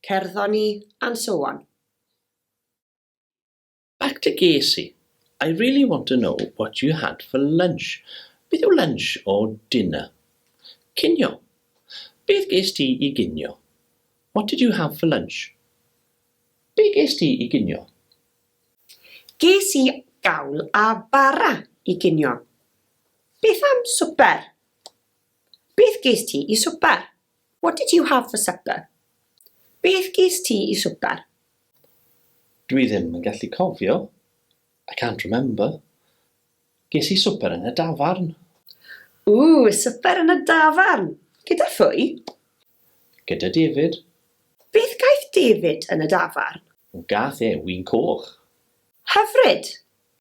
Cerddon ni and so on. Back to Gacy, I really want to know what you had for lunch, beth yw lunch or dinner? Cinio, beth ges ti i ginio? What did you have for lunch? Be ges ti i ginio? Ges i gawl a bara i ginio. Beth am swper? Beth ges ti i swper? What did you have for supper? Beth ges ti i swper? Dwi ddim yn gallu cofio. I can't remember. Ges i swper yn y dafarn. Ooh, swper yn y dafarn! Gyda phwy? Gyda David. Beth gaeth David yn y dafarn? Gath e win coch. Hyfryd!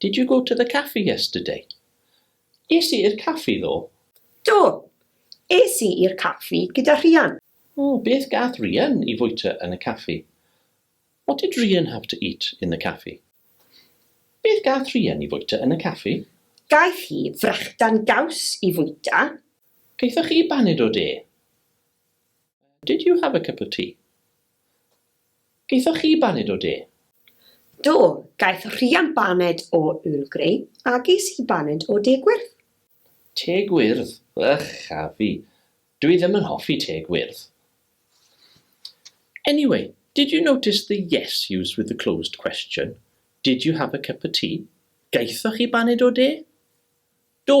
Did you go to the caffi yesterday? Es i i'r caffi ddoe. Do, es i i'r caffi gyda Rhian. O, beth gath Rhian i fwyta yn y caffi? What did Rhian have to eat in the caffi? Beth gath Rhian i fwyta yn y caffi? Gaeth hi frechdan gaws i fwyta. Gaethoch chi baned o de? Did you have a cup of tea? Gaethoch chi baned o de? Do, gaeth Rhian baned o Earl Grey a ges i baned o de gwyrdd. Te gwyrdd? Ych a fi! Dw i ddim yn hoffi te gwyrdd. Anyway, did you notice the yes used with the closed question? Did you have a cup of tea? Gaethoch chi baned o de? Do!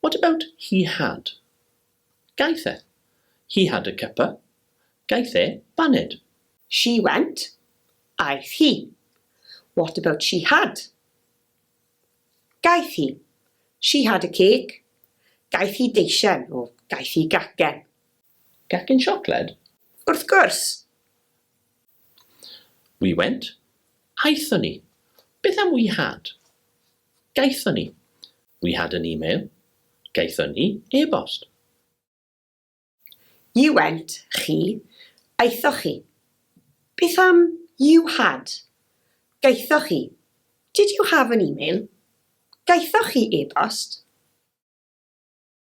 What about he had? Gaeth e. He had a cuppa. Gaeth e baned. She went. Aeth hi. What about she had? Gaeth hi. She had a cake. Gaeth hi deisen, o, gaeth hi gacen. Gacen siocled? Wrth gwrs! We went. Aethon ni. Beth am we had? Gaethon ni. We had an email. Gaethon ni e-bost. You went, chi. Aethoch chi. Beth am you had? Gaethoch chi. Did you have an email? Gaethoch chi e-bost?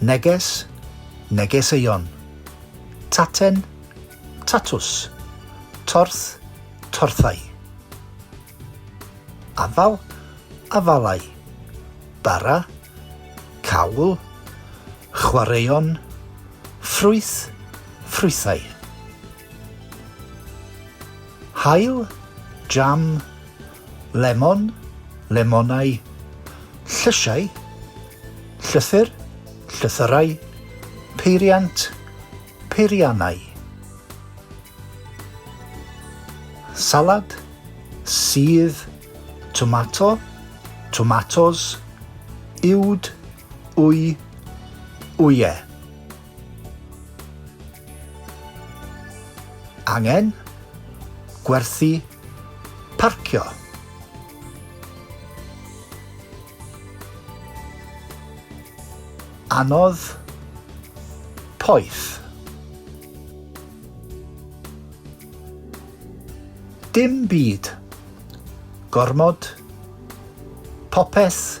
Neges, negeseuon. Taten, tatws. Torth, torthau. Afal, afalau. Bara, cawl. Chwaraeon, ffrwyth, ffrwythau. Haul, jam, lemon, lemonau, llysiau, llythyr, llythyrau, peiriant, peiriannau, salad, sudd, tomato, tomatos, uwd, wy, wyau. Angen, gwerthu, parcio. Anodd, poeth. Dim byd. Gormod. Popeth.